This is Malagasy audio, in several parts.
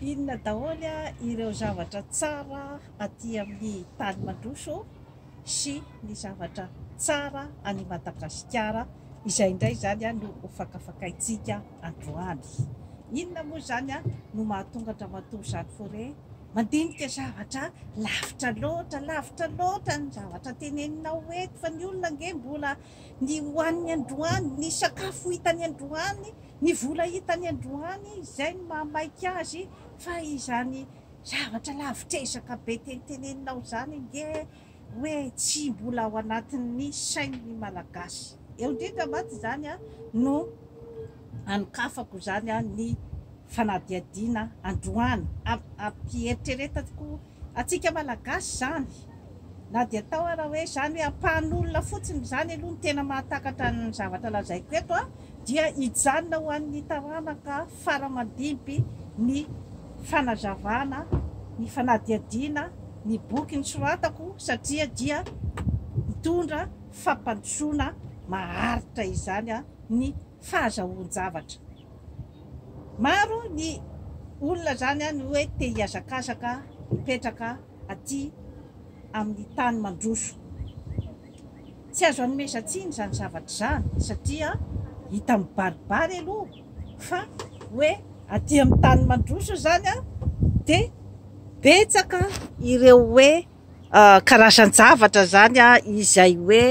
Inona daholo ireo zavatra tsara aty amin'ny tany mandroso sy ny zavatra tsara any Madagasikara izay indray izany no hofakafakaintsika androany. Inona moa izany no mahatonga an-dRamatoa Jeanne Fauré Mandinika zavatra lavitra loatra, lavitra loatra ny zavatra teneninao eto fa ny olona ange mbola ny hohaniny androany, ny sakafo hitany androany, ny vola hitany androany, izay no mahamaika azy fa izany zavatra lavitr'ezaka be teneteneninao izany ange hoe tsy mbola ao anatin'ny sain'ny Malagasy. Eo indrindra mantsy izany no anokafako izany ny fanadihadiana androany. Ampiheritreretako antsika Malagasy izany, na dia atao ara hoe izany hoe ampahan'olona fotsiny izany aloha ny tena mahatakatra ny zavatra lazaiko eto dia hijanona ho an'ny taranaka fara aman-dimpy ny fanazavana, ny fanadihadiana ny boky nosoratako satria dia mitondra fampandrosoana maharitra izany ny fahazahoan-javatra. Maro ny olona izany no hoe te hihazakazaka hipetraka aty amin'ny tany mandroso. Tsy azo anomezan-tsiny izany zavatra izany satria hita mibaribary aloha. fa hoe aty amin'ny tany mandroso izany dia betsaka ireo hoe karazan-javatra izany izay hoe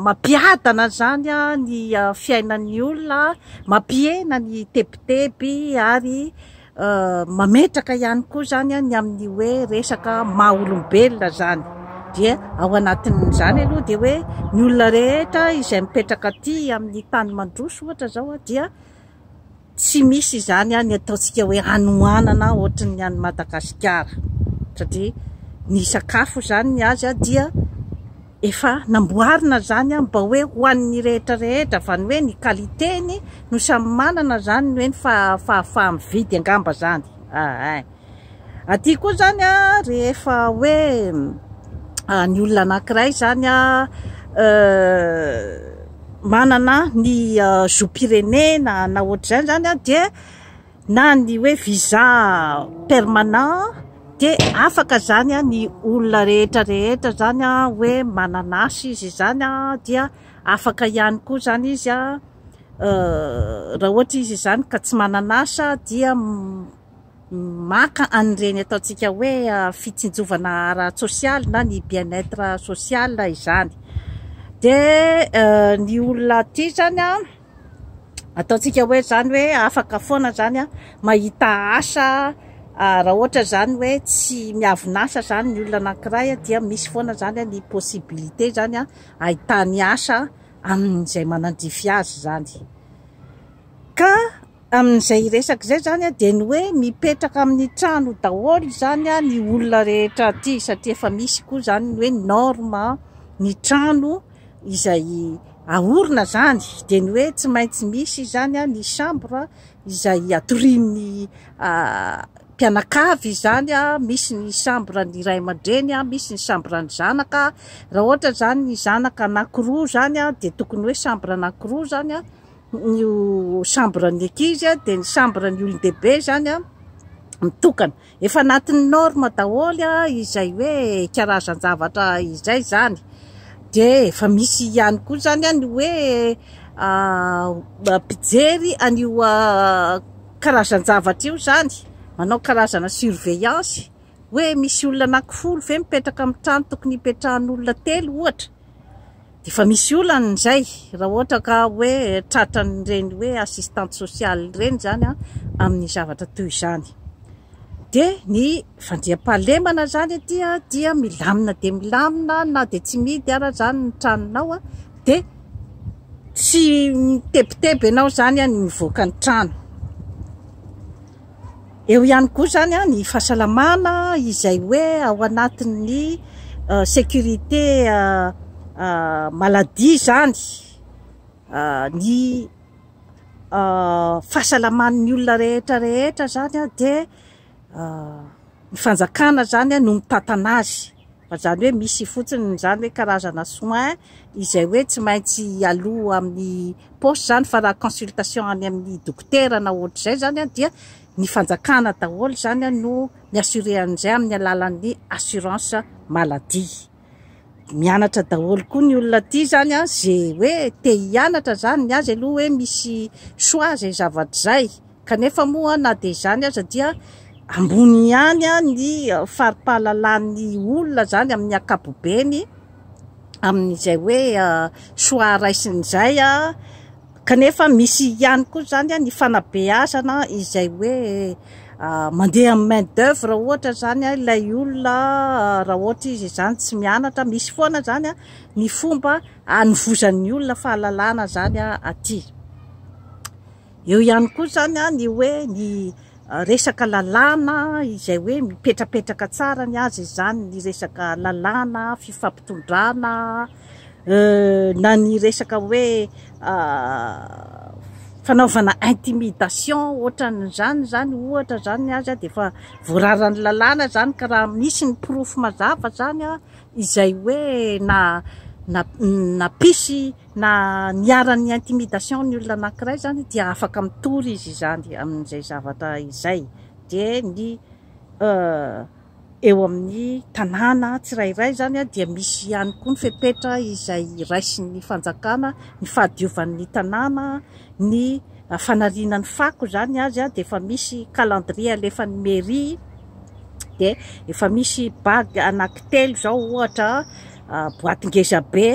mampiadana izany ny fiainan'ny olona, mampihena ny tebiteby ary Mametraka ihany koa izany ny amin'ny hoe resaka maha olombelona izany. Dia ao anatin'izany aloha dia hoe ny olona rehetra izay mipetraka aty amin'ny tany mandroso ohatra izao dia tsy misy izany ny ataontsika hoe hanoanana ohatry ny any Madagasikara satria ny sakafo izany ny azy dia Efa namboarina zany an mba hoe ho an'ny rehetra rehetra fa ny hoe ny qualité-ny no samy manana zany ny hoe ny fahafaha-mividy angamba zany ein. Aty koa zany an rehefa hoe ny olona anankiray zany an manana ny zom-pirenena na ohatr'izany zany an dia na ny hoe visa permanent dia afaka izany ny olona rehetra rehetra izany hoe manana asa izy izany dia afaka ihany koa izany izy raha ohatra izy izany ka tsy manana asa dia maka an'ireny ataontsika hoe fitsinjovana ara-tsosialy na ny bien être social izany dia ny olona aty izany an ataontsika hoe izany hoe afaka foana izany an, mahita asa raha ohatra izany hoe tsy miavin'asa izany ny olona anankiray dia misy foana izany ny possibilité izany an, ahitany asa amin'izay manandrify azy izany. Ka amin'izay resaka izay izany an dia ny hoe mipetraka amin'ny trano daholo izany an ny olona rehetra aty satria efa misy koa izany ny hoe norme ny trano, izay aorina izany dia ny hoe tsy maintsy misy izany ny chambre izay atorian'ny mpianakavy izany, misy ny chambre ny ray aman-dreny, misy ny chambre ny zanaka, raha ohatra izany ny zanaka anankiroa izany dia tokony hoe chambre anankiroa izany ny chambre ny ankizy dia ny chambre ny olon-dehibe izany mitokana. Efa anatin'ny norme daholo izay hoe karazan-javatra izay izany. Dia efa misy ihany koa izany ny hoe mpijery an'io karazan-javatra io izany, manao karazana surveillance hoe misy olona anankifolo ve mipetraka amin'ny trano tokony hipetrahan'olona telo ohatra. Efa misy olana izay raha ohatra ka hoe tratran'ireny hoe assistante sociale ireny izany amin'ny zavatra toy izany. Dia ny fandriampahalemana izany aty dia milamina dia milamina na dia tsy mihidy ara izany ny tranonao dia tsy mitebiteby ianao izany ny mivoaka ny trano. Eo ihany koa izany ny fahasalamana izay hoe ao anatin'ny sécurité maladie izany ny fahasalaman'ny olona rehetra rehetra izany dia ny fanjakana izany no mitantana azy. Fa izany hoe misy fotsiny izany hoe karazana soin izay hoe tsy maintsy aloa amin'ny poste izany fa raha consultation any amin'ny dokotera na ohatr'izay izany an dia ny fanjakana daholo izany an no mi-assurer an'izay amin'ny alalan'ny assurance maladie. Mianatra daholo koa ny olona aty izany an ze hoe te hianatra izany ny azy aloha hoe misy choix izay zavatra izay. Kanefa moa na dia izany aza dia ambony ihany ny fari-pahalalan'ny olona izany amin'ny ankapobeny amin'izay hoe soa raisiny izay, kanefa misy ihany koa izany ny fanabeazana izay hoe mandeha amin'ny main d'oeuvre ohatra izany ilay olona raha ohatra izy izany tsy mianatra, misy foana izany ny fomba hanovozan'ny olona fahalalana izany aty. Eo ihany koa izany ny hoe ny resaka lalàna izay hoe mipetrapetraka tsara ny azy izany, ny resaka lalàna, fifampitondrana, na ny resaka hoe fanaovana intimidation ohatran'izany izany ohatra izany ny azy dia efa voararan'ny lalàna izany ka raha misy ny porofo mazava izany izay hoe na na nampisy Na niharan'ny intimidation ny olona anankiray izany dia afaka mitory izy izany amin'izay zavatra izay. Dia ny eo amin'ny tanàna tsirairay izany dia misy ihany koa ny fepetra izay raisin'ny fanjakana, ny fahadiovan'ny tanàna, ny fanariana ny fako izany azy dia efa misy calendrier alefan'ny mairie, dia efa misy bague anaky telo izao ohatra, boaty ngezabe.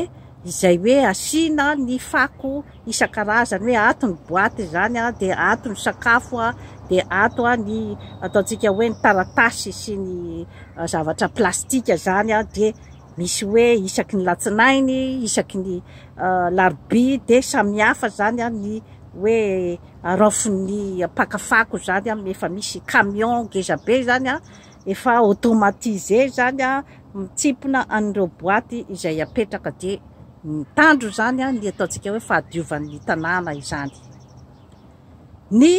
izay hoe asiana ny fako isan-karazany hoe ato ny boaty izany a, dia ato ny sakafo a, dia ato a ny ataontsika hoe ny taratasy sy ny zavatra plastika izany a, dia misy hoe isaky ny latsinainy, isaky ny larobia, dia samihafa izany a ny hoe araofin'ny mpaka fako izany a, efa misy camion ngeza be izany a, Efa automatise izany an, mitsimpona an'ireo boaty izay apetraka dia mitandro izany an, ny ataontsika hoe fahadiovan'ny tanàna izany. Ny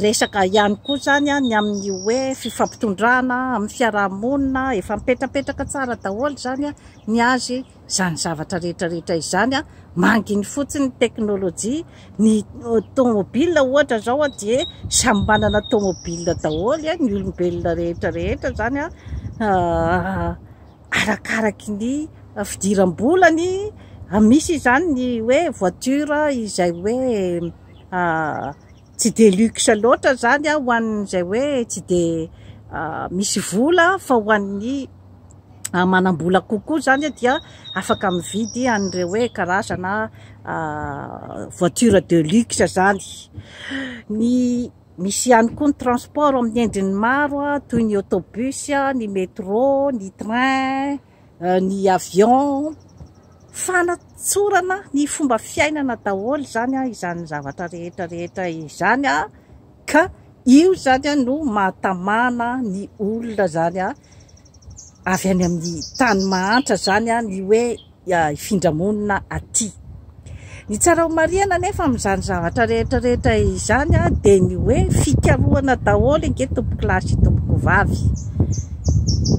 resaka ihany koa izany an, ny amin'ny hoe fifampitondrana amin'ny fiaraha-monina, efa mipetrapetraka tsara daholo izany an, ny azy. Izany zavatra rehetra rehetra izany manginy fotsiny ny teknolojia, ny tomobil ohatra izao dia samy manana tomobil daholo ny olombelona rehetra rehetra izany arakaraky ny fidiram-bolany, misy izany ny hoe voiture izay hoe Tsy dia luxe loatra izany ho an'izay hoe tsy dia misy vola fa ho an'ny manam-bola kokoa izany dia afaka mividy an'ireo hoe karazana voiture de luxe izany. Ny misy ihany koa ny transport amin'ny endriny maro toy ny autobus, ny metro, ny train. euh, ny avion fanatsorana ny fomba fiainana daholo izany a izany zavatra rehetra rehetra izany a ka io zany a no mahatamana ny olona zany a avy any amin'ny tany mahantra zany a ny hoe ifindramonina aty Ny tsara homarihana anefa amin'izany zavatra rehetra rehetra izany dia ny hoe fikarohana daholo ange tompokolahy sy tompokovavy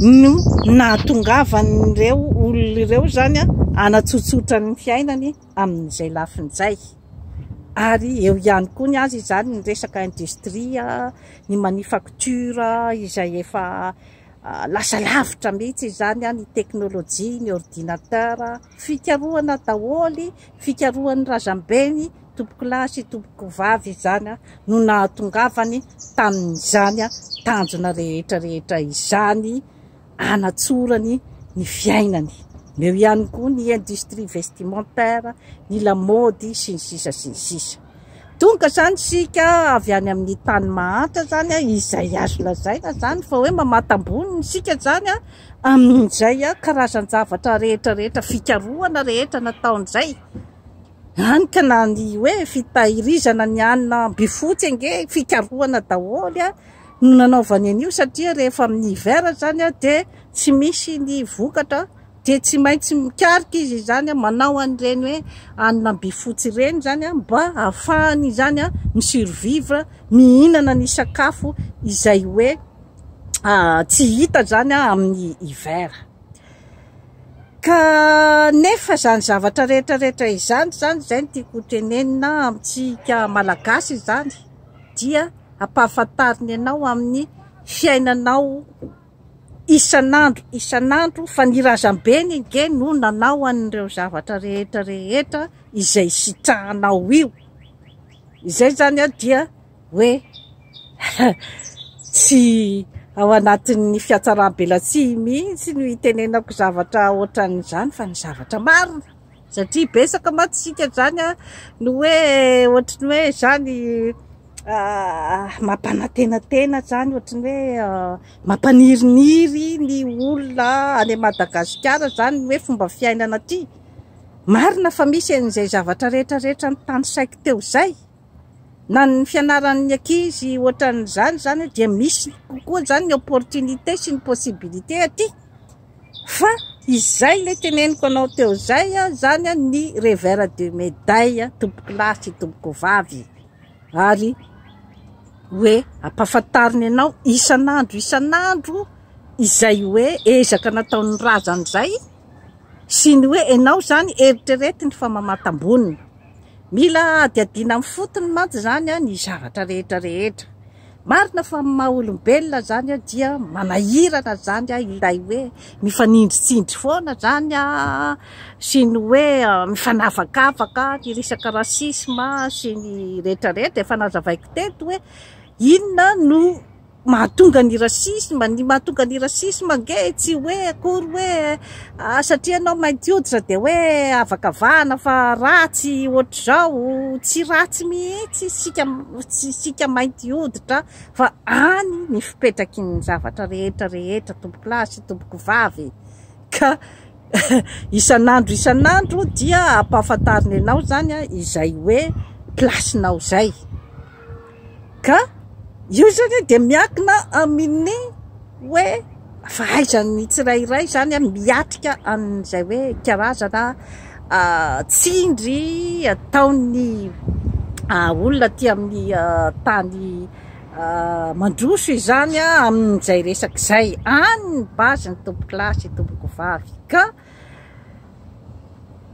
no nahatongavan'ireo olona ireo izany hanatsotsotra ny fiainany amin'izay lafiny izay. Ary eo ihany koa ny azy izany ny resaka industrie, ny manufacture izay efa lasa lavitra mihitsy izany, ny teknolojia, ny ordinateur. Fikarohana daholo, fikarohan'ny razambeny, tompokolahy sy tompokovavy izany no nahatongavany tamin'izany tanjona rehetra rehetra izany hanatsorany ny fiainany. Eo ihany koa ny industrie vestimentaire, ny lamaody sy ny sisa sy ny sisa. Tonga izany isika avy any amin'ny tany mahantra izany a, izay azo lazaina izany fa hoe mamatam-bony ny isika izany a, amin'izay a, karazan-javatra rehetra rehetra, fikarohana rehetra nataon'izay, hany ka na ny hoe fitahirizana ny hanina am-bifotsy ange fikarohana daholo a, no nanaovany an'io satria rehefa amin'ny hiver izany a dia tsy misy ny vokatra Dia tsy maintsy mikaroka izy izany, manao an'ireny hoe hanina by fotsy ireny izany mba hahafahany izany mi survivre, mihinana ny sakafo izay hoe tsy hita izany amin'ny hiver. Ka nefa izany zavatra rehetra rehetra izany izany, izay no tiako ho tenenina amintsika Malagasy izany dia ampahafantarina ianao amin'ny fiainanao. Isan'andro isan'andro fa ny razambeny ange no nanao an'ireo zavatra rehetra rehetra izay sitrahanao io. Izay izany dia hoe tsy ao anatin'ny fiatsaram-belatsihy mihitsy no itenenako zavatra ohatran'izany fa ny zavatra marina. Satria betsaka mantsy isika izany an, no hoe ohatry ny hoe izany mampanantenantena izany, ohatry ny hoe mampaniriniry ny olona any Madagasikara izany ny hoe fomba fiainana aty. Marina fa misy an'izay zavatra rehetra rehetra notanisaiko teo izay, na ny fianaran'ny ankizy ohatran'izany izany dia misy kokoa izany ny opportunité sy ny possibilité aty. Fa izay ilay teneniko anao teo izay, izany ny revers de médaille tompokolahy sy tompokovavy. Ary hoe ampahafantarina anao isan'andro isan'andro izay hoe ezaka nataon'ny razana izay sy ny hoe ianao izany eritreretiny fa mamatam-bonona. Mila adihadiana amin'ny fotony mantsy izany ny zavatra rehetra rehetra. Marina fa amin'ny maha olombelona zany a dia manahirana zany a ilay hoe mifanindritsindry foana zany a sy ny hoe mifanavakavaka ny resaka racisme sy ny retraretra efa nazavaiko teto hoe inona no mahatonga ny racisme ny mahatonga ny racisme ange tsy hoe akory hoe Ah satria ianao mainty hoditra dia hoe avakavahana fa ratsy ohatr'izao, tsy ratsy mihitsy isika isika mainty hoditra fa any ny fipetraky ny zavatra rehetra rehetra tompokolahy sy tompokovavy ka isan'andro isan'andro dia ampahafantarina ianao izany izay hoe place-nao izay. Ka io izany dia miankina amin'ny hoe fahaizan'ny tsirairay izany miatrika an'izay hoe karazana tsindry ataon'ny olona aty amin'ny tany mandroso izany amin'izay resaka izay. Any ny base ny tompokolahy sy ny tompokovavy. Ka.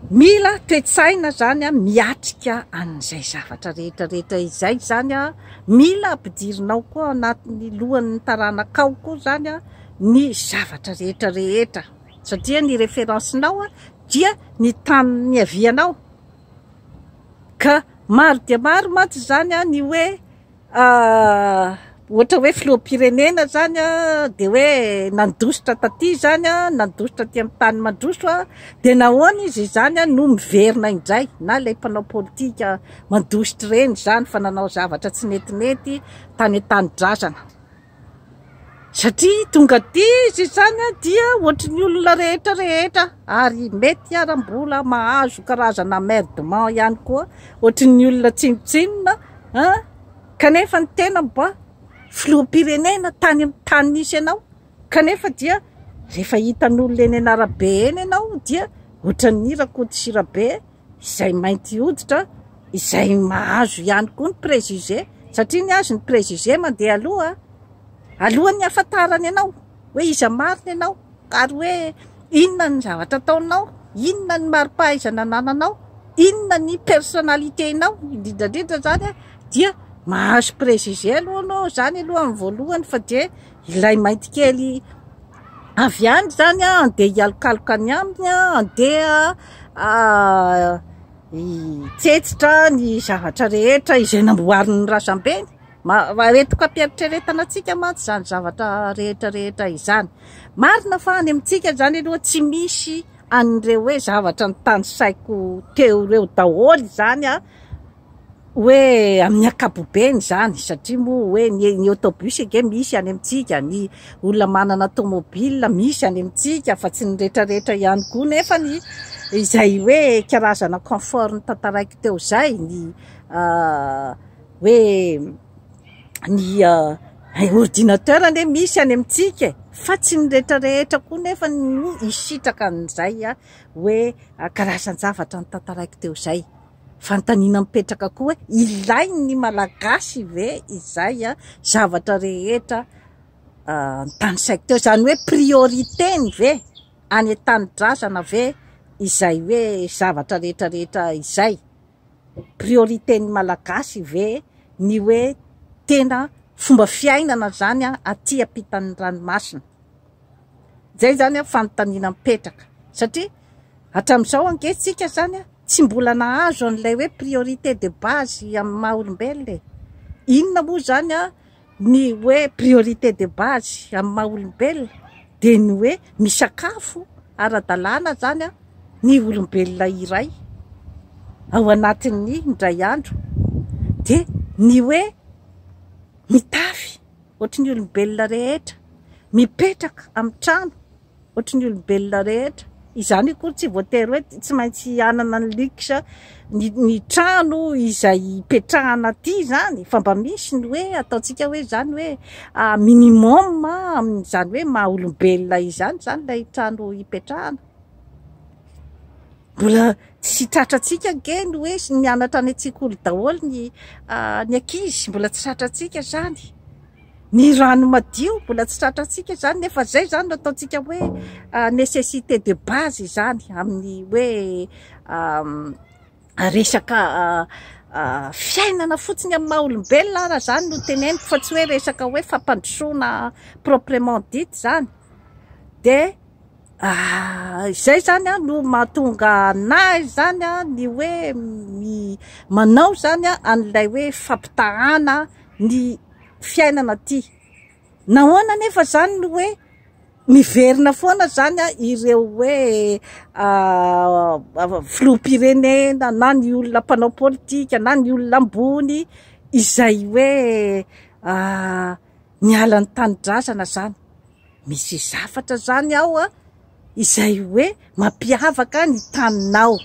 Mila toe-tsaina izany an, miatrika an'izay zavatra rehetra rehetra izay izany an, mila ampidirinao koa anatin'ny lohan'ny taranakao koa izany an, ny zavatra rehetra rehetra satria ny reference-nao an, dia ny tany niavianao ka maro dia maro mantsy izany an ny hoe Ah, ohatra hoe filoham-pirenena izany an, dia hoe nandositra taty izany an, nandositra aty amin'ny tany mandroso an, dia nahoana izy izany an no miverina indray, na ilay mpanao politika mandositra ireny izany fa nanao zavatra tsy netinety tany an-tanindrazana. Satria tonga aty izy izany dia ohatry ny olona rehetra rehetra ary mety ara mbola mahazo karazana merdement ihany koa ohatry ny olona tsinontsinona kanefa ny tena mba filoham-pirenena tany amin'ny tany nisy ianao kanefa dia rehefa hitan'olona eny an'arabe eny ianao dia ohatran'ny Rakoto sy Rabe izay mainty hoditra izay mahazo ihany koa ny préjugé satria ny azy ny préjugé mandeha aloha alohan'ny hahafantarany anao hoe iza marina ianao ary hoe inona ny zavatra ataonao inona ny maripahaizana nananao inona ny personnalité inao indrindrandrindra zany dia mahazo préjugé aloha anao zany aloha amin'ny voalohany fa dia Ilay mainty kely avy any izany an, andeha hialokaloka any aminy an, andeha hitsetsitra ny zavatra rehetra izay namboarin'ny razambeny. Retoka-pieritreretana antsika mantsy izany zavatra rehetra rehetra izany. Marina fa any amintsika izany aloha tsy misy an'ireo hoe zavatra nitanisaiko teo ireo daholo izany an. hoe amin'ny ankapobeny izany satria moa hoe ny ny autobus ange misy any amintsika, ny olona manana tomobile misy any amintsika fa tsy ny retraretra ihany koa nefa ny izay hoe karazana confort notantaraiko teo izay ny hoe ny ordinateur anie misy any amintsika e! fa tsy ny retraretra koa nefa no hisitraka an'izay hoe karazan-javatra notantaraiko teo izay. Fanontaniana mipetraka koa hoe ilain'ny Malagasy ve izay zavatra rehetra notanisaiko teo? Izany hoe priorité-ny ve any an-tanindrazana ve izay hoe zavatra rehetrarehetra izay? Priorité-n'ny Malagasy ve ny hoe tena fomba fiainana izany aty ampitan'ny ranomasina? Izay izany an fanontaniana mipetraka satria hatramin'izao ange tsika zany an tsy mbola nahazo an'ilay hoe priorité de base amin'ny maha olombelona e! Inona moa izany an ny hoe priorité de base amin'ny maha olombelona? Dia ny hoe misakafo ara-dalàna izany an ny olombelona iray ao anatin'ny indray andro, dia ny hoe mitafy. ohatry ny olombelona rehetra, mipetraka amin'ny trano ohatry ny olombelona rehetra. Izany akory tsy voatery hoe tsy maintsy hanana ny luxe ny ny trano izay hipetrahana aty izany fa mba misy ny hoe ataontsika hoe izany hoe minimum amin'izany hoe maha olombelona izany izany ilay trano hipetrahana. Mbola tsy tratrantsika ange ny hoe nianatra any an-tsekoly daholo ny ny ankizy, mbola tsy tratrantsika izany. Ny rano madio mbola tsy tratrantsika izany nefa izay izany no ataontsika hoe nécessité de base izany amin'ny hoe resaka fiainana fotsiny amin'ny maha olombelona ary izany no teneniko fa tsy hoe resaka hoe fampandrosoana proprement dit izany dia Ah, izay zany an no mahatonga anahy zany an ny hoe mi, manao zany an an'ilay hoe fampitahana ny fiainana aty. Nahoana anefa zany no hoe miverina foana zany an ireo hoe ah, filoham-pirenena na ny olona mpanao politika na ny olona ambony izay hoe ah, niala ny tanindrazana zany. Misy zavatra izany ao an, izay hoe mampiavaka ny taninao.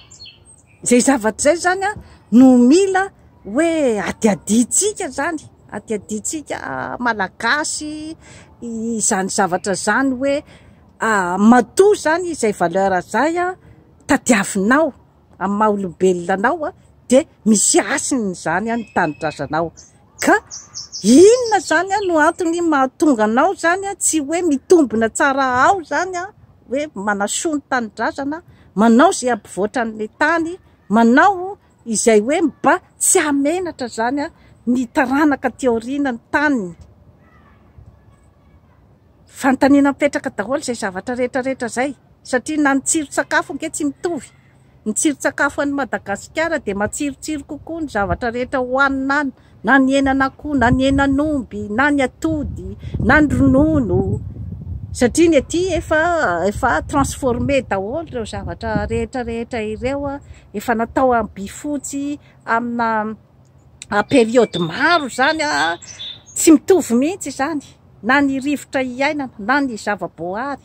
Izay zavatra izay izany an, no mila hoe hadihadiantsika izany, hadihadiantsika Malagasy izany zavatra izany hoe matoa izany izay valeur izay an, tadiavinao. amin'ny maha olombelona anao dia misy hasiny izany ny tanindrazanao ka inona izany no antony mahatonga anao izany tsy hoe mitombina tsara ao izany hoe manasoa ny tanindrazana, manao izay hampivoatra an'ilay tany, manao izay hoe mba tsy hahamenatra izany ny taranaka aty aoriana ny taniny. Fanontaniana mipetraka daholo izay zavatra rehetra rehetra izay satria na ny tsiron-tsakafo ange tsy mitovy. Ny tsiron-tsakafo any Madagasikara dia matsirotsiro kokoa ny zavatra rehetra hohanina any, na ny henan'akoho, na ny henan'omby, na ny atody, na ny ronono, satria ny aty efa efa transformé daholo ireo zavatra rehetra rehetra ireo, efa natao amin'ny by fotsy, amina. période maro izany tsy mitovy mihitsy izany na ny rivotra iainana na ny zavaboahary